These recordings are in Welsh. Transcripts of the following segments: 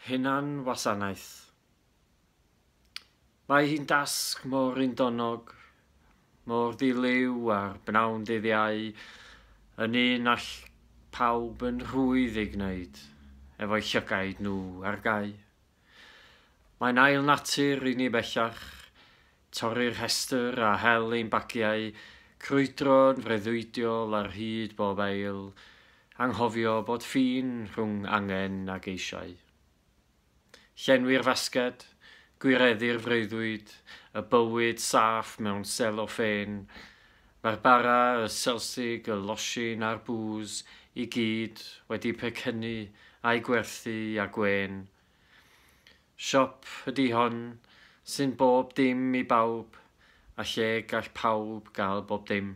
Hunanwasanaeth. Mae hi'n dasg mor undonnog, mor ddi-liw a'r bnawn dyddiau yn un all pawb yn rhwydd ei gwneud efo'i llygaid nhw ar gau. Mae'n ail natur i ni bellach, torri'r rhestr a hel ein bagiau, crwydro'n freuddwydiol ar hyd bob ail, anghofio bod ffin rhwng angen a geisiau. Llenwi'r fasged, gwireddu'r freuddwyd, y bywyd saff mewn selo ffên, Mae'r bara, y selsig, y losin a'r bŵs i gyd wedi pecynnu a'i gwerthu a gwên. Siop ydi hon sy'n bob dim i bawb a lle gall pawb gael bob dim.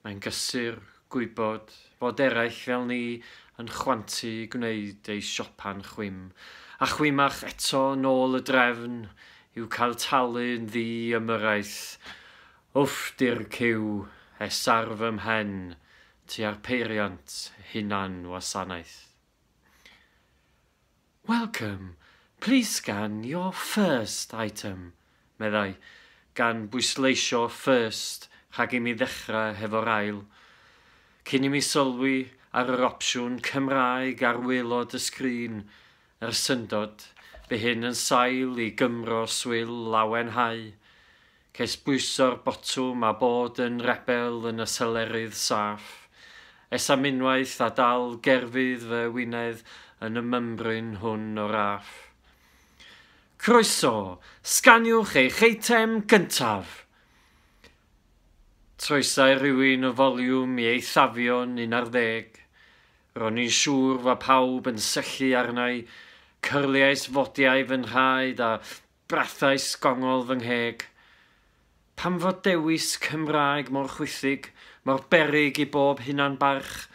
Mae'n gysur gwybod fod eraill fel ni yn chwantu i gwneud eu siopa'n chwim a chwim ac eto nôl y drefn yw cael talu yn ddi ymyrraeth. Wff dir cyw es ar fy mhen tua'r peiriant hunan wasanaeth. Welcome, please scan your first item, meddai, gan bwysleisio first rhag imi ddechrau hefo'r ail. Cyn imi sylwi ar yr opsiwn Cymraeg ar waelod y sgrin, yr syndod, bu hyn yn sail i Gymro swil lawenhau. Ces bwyso'r botwm a bod yn rebel yn y selerydd saff. Es am unwaith a dal gerfydd fy wynedd yn y mymbryn hwn o raff. Croeso! Sganiwch eich eitem gyntaf! Troesai rhywun y foliwm i eithafion un ar ddeg. Ro'n i'n siŵr fa pawb yn syllu arnai, cyrliais fodiau fy nhraed a Brathais gongol fy ngheg. Pam fod dewis Cymraeg mor chwithig, mor beryg i bob hunan-barch?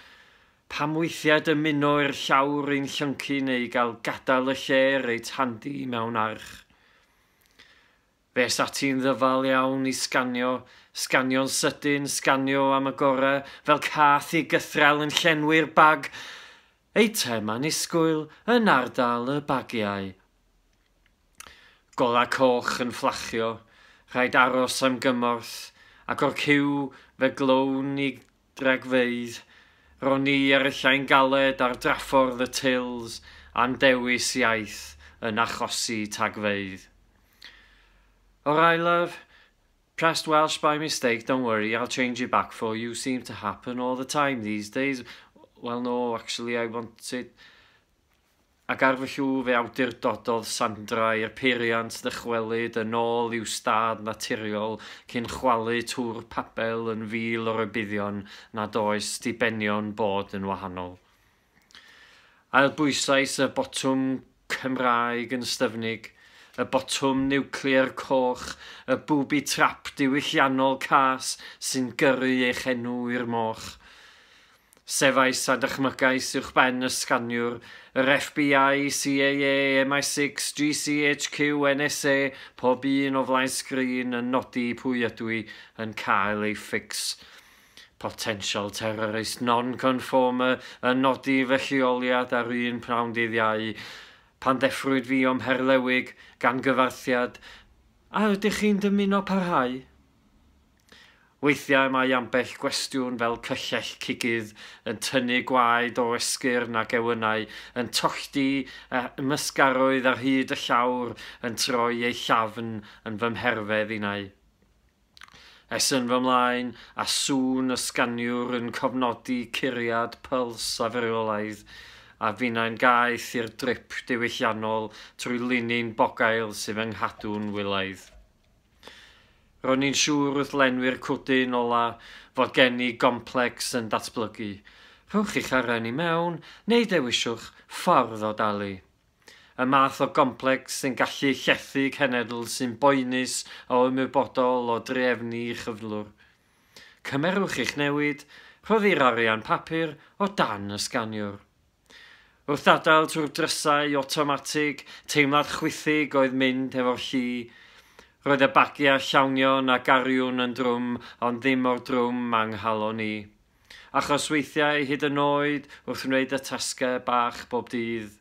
Pam weithiau dymuno i'r llawr un llyncu neu gael gadael y lle reit handi mewn arch? Fe es ati'n ddyfal iawn i sganio, sganio'n sydyn, sganio am y gorau, fel cath i gythrel yn llenwi'r bag! Eitem annisgwyl yn ardal y bagiau Golau coch yn fflachio, rhaid aros am gymorth, ac o'r ciw fe glown i gragfeydd. Ro'n i ar y llain galed ar draffordd y Tills a'n dewis iaith yn achosi tagfeydd. O'r aelaf, Pressed Welsh by mistake, don't worry, I'll change it back for you, seems to happen all the time these days, well no, actually I wanted... ac ar fy llw fe awdurdododd Sandra i'r peiriant ddychwelyd yn ôl i'w stad naturiol cyn chwalu twr Pabell yn fil o rybuddion nad oes dibenion bod yn wahanol. Ailbwysais y botwm Cymraeg yn styfnig, y botwm niwclear coch, y booby trap diwylliannol cas sy'n gyrru eich enw i'r moch. Cefais a dychmygais uwchben y sganiwr, yr FBI, CAA, MI six, GCHQ, NSA, pob un o flaen sgrin yn nodi pwy ydw i, yn cael ei fix. Potential terrorist non-conformer yn nodi fy lleoliad ar un pnawn dydd Iau, pan ddeffrwyd fi o'm herlewig, gan gyfarthiad, A ydych chi'n dymuno parhau? Weithiau mae ambell gwestiwn fel cyllell cigydd yn tynnu gwaed o esgyrn a gewynnau yn tollti a ymysgarwydd ar hyd y llawr yn troi ei llafn yn fy mherfedd innau. Es yn fy mlaen a sŵn y sganiwr yn cofnodi curiad pyls a fyrwylaidd a finnau'n gaeth i'r drip diwylliannol trwy linyn bogail sydd fy nghadw'n wylaidd. Ro'n i'n siŵr wrth lenwi'r cwdyn ola fod gen i gomplecs yn datblygu. Rhowch chi'ch aren i mewn, neu dewiswch ffordd o dalu. Y math o gomplecs sy'n gallu llethu cenedl sy'n boenus a ymwybodol o drefnu cyflwr. Cymerwch eich newid, rhoddi'r arian papur o dan y sganiwr. Wrth adael trwy'r drysau awtomatig, teimlad chwithig oedd mynd hefo'r llu. Roedd y bagiau llawnion a gariwn yn drwm ond ddim mor drwm â nghalon i. Achos weithiau hyd yn oed wrth wneud y tasgau bach bob dydd,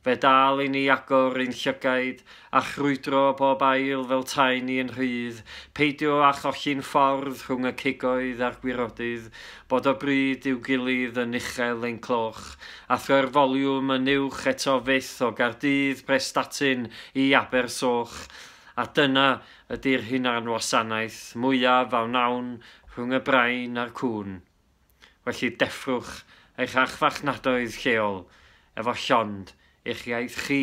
fe dal i ni agor ein llygaid a chrwydro bob ail fel taen ni yn rhydd, peidio â cholli'n ffordd rhwng y cigoedd a'r gwirodydd, bod o bryd i'w gilydd yn uchel ein cloch, a throi'r foliwm yn uwch eto fyth o Gaerdydd Prestatyn i Abersoch, a dyna ydi'r hunanwasanaeth mwyaf a wnawn rhwng y brain a'r cŵn. Felly deffrwch eich archfarchnadoedd lleol efo llond eich iaith chi!